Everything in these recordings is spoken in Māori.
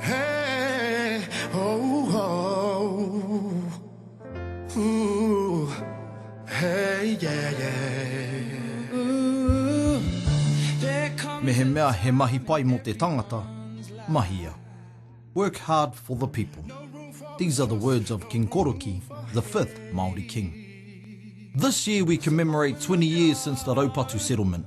Hey, oh, oh, ooh, hey, yeah, yeah. Ooh, there comes Mehemea he mahi pai mō te tangata, mahia. Work hard for the people. These are the words of King Koroki, the fifth Māori King. This year we commemorate 20 years since the Raupatu settlement.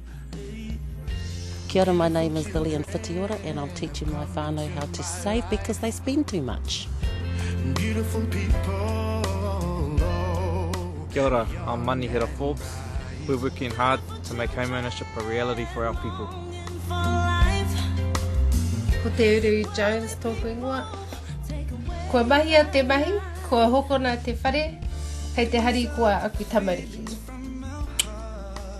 Kia ora, my name is Lillian Whitiora and I'm teaching my whānau how to save because they spend too much. Beautiful people, oh. Kia ora, I'm Manihera Forbes. We're working hard to make home ownership a reality for our people. Ko Te Uru Jones tōku ingoa. Kua mahia te mahi, kua hokona te whare, kei te harikoa aku tamariki.